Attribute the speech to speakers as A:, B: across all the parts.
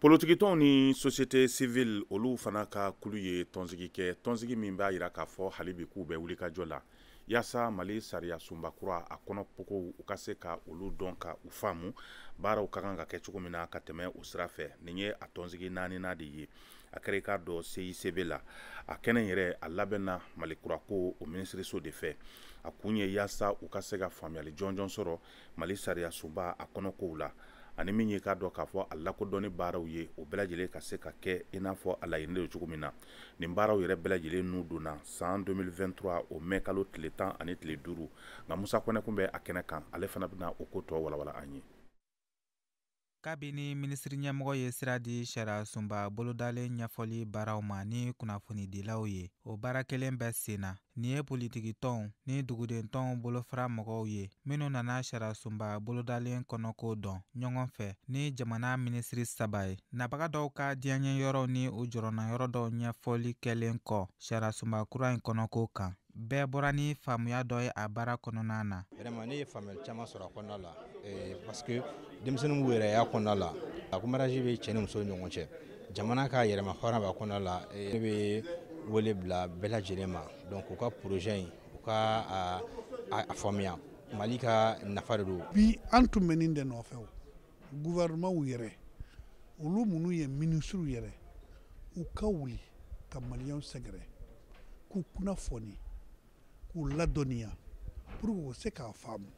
A: Politikitɔnw ni société civile olu fana ka kulu ye tɔnsigi kɛ tɔnsigi min b'a jira k'a fɔ hali bi k'u bɛ wulikajɔ la yaasa mali sariya sunba kura a kɔnɔkow u ka se ka olu dɔn ka u faamu baaraw ka kan ka kɛ cogo min na ka tɛmɛ o sira fɛ nin ye a tɔnsigi naaninan de ye a kɛra i k'a dɔn CICB la a kɛnɛ yɛrɛ a labɛnna mali kurako o minisiriso de fɛ a kun ye yaasa u ka se ka faamuyali jɔnjɔn sɔrɔ mali sariyasunba a kɔnɔ kow la ani min ye k'a dɔn k'a fɔ a lakodɔnni baaraw ye o bɛɛ lajɛlen ka se ka kɛ i n'a fɔ a laɲini don cogo min na nin baaraw yɛrɛ bɛɛ lajɛlen nun donna san 2023 o mɛ kalo tile tan ani tile duuru nka musa kɔnɛ kun bɛ a kɛnɛ kan ale fana bɛna o ko tɔ walawala an ye
B: kabini minisiriɲɛmɔgɔ ye sira di sariyasunba bolodalen ɲɛfɔli baaraw ma ni kunnafonidilaw ye o baara kelen bɛ sen na nin ye politikitɔnw ni dugudentɔnw bolofara mɔgɔw ye minnu nana sariyasunba bolodalen kɔnɔko dɔn ɲɔgɔn fɛ ni jamana minisiri saba ye nabaga dɔw ka diyaɲɛyɔrɔw ni u jɔrɔnayɔrɔ dɔw ɲɛfɔli kɛlen kɔ sariyasunba kura in kɔnɔko kan bɛɛ bɔra ni faamuya dɔ ye a baara kɔnɔna na vraiment ne ye
C: faamuyali caman sɔrɔ a kɔnɔna la eh, parce que denmisɛnninw b'u yɛrɛ y'a kɔnɔna la a ko mariage bɛ cɛ ni muso ni ɲɔgɔn cɛ jamana ka yɛrɛma hɔrɔn b'a kɔnɔna la eh, ne bɛ wele bila bɛɛ lajɛlen ma donc u ka projet in u ka a faamuya mali ka nafa de don bi an tun bɛ nin
D: de nɔfɛ gouvernementw yɛrɛ olu minnu ye minisiriw yɛrɛ u ka wuli ka maliyɛnw sɛgɛrɛ k'u kunnafoni k'u ladɔnniya pour que u se k'a faamu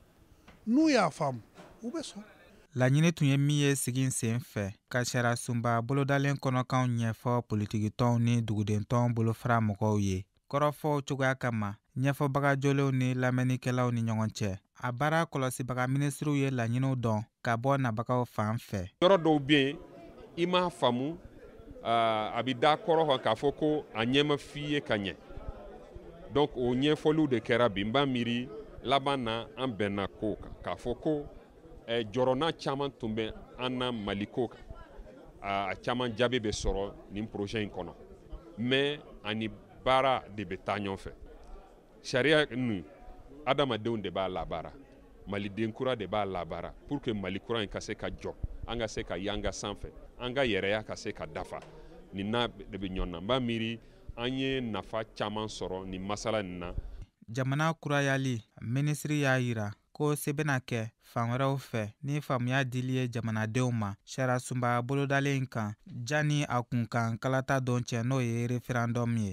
D: n'u y'a faamu u bɛ sɔn laɲini tun ye min
B: ye sigi sen fɛ ka sariyasunba bolodalen kɔnɔkanw ɲɛfɔ politikitɔnw ni dugudentɔn bolofara mɔgɔw ye kɔrɔfɔw cogoya kama ɲɛfɔbaga jolenw ni lamɛnnikɛlaw ni ɲɔgɔn cɛ a baara kɔlɔsibaga minisiriw ye laɲiniw dɔn ka bɔ nabagaw fan fɛ yɔrɔ dɔw bɛ yen
E: i m'a faamu a bɛ da kɔrɔ kan k'a fɔ ko a ɲɛ ma f'i ye ka ɲɛ donc o ɲɛfɔliw de kɛra bi n b'a miiri laban na an bɛnna ko kan k'a fɔ ko eh, jɔrɔna caman tun bɛ an na maliko kan a caman jaabi bɛ sɔrɔ nin projet in kɔnɔ mais a ni baara de bɛ taa ɲɔgɔn fɛ sariya nin adamadenw de b'a labaara maliden kura de b'a labaara pour que mali kura in ka se ka jɔ an ka se ka yanga sanfɛ an ka yɛrɛya ka se ka dafa nin n'a de bɛ ɲɔgɔn na n b'a miiri an ye nafa caman sɔrɔ nin masala nin na jamana
B: kurayali minisiri y'a yira ko se bɛna kɛ fan wɛrɛw fɛ ni faamuya dili ye jamanadenw ma sariyasunba bolodalen kan janni a kunkan kalata don cɛ n'o ye referendum ye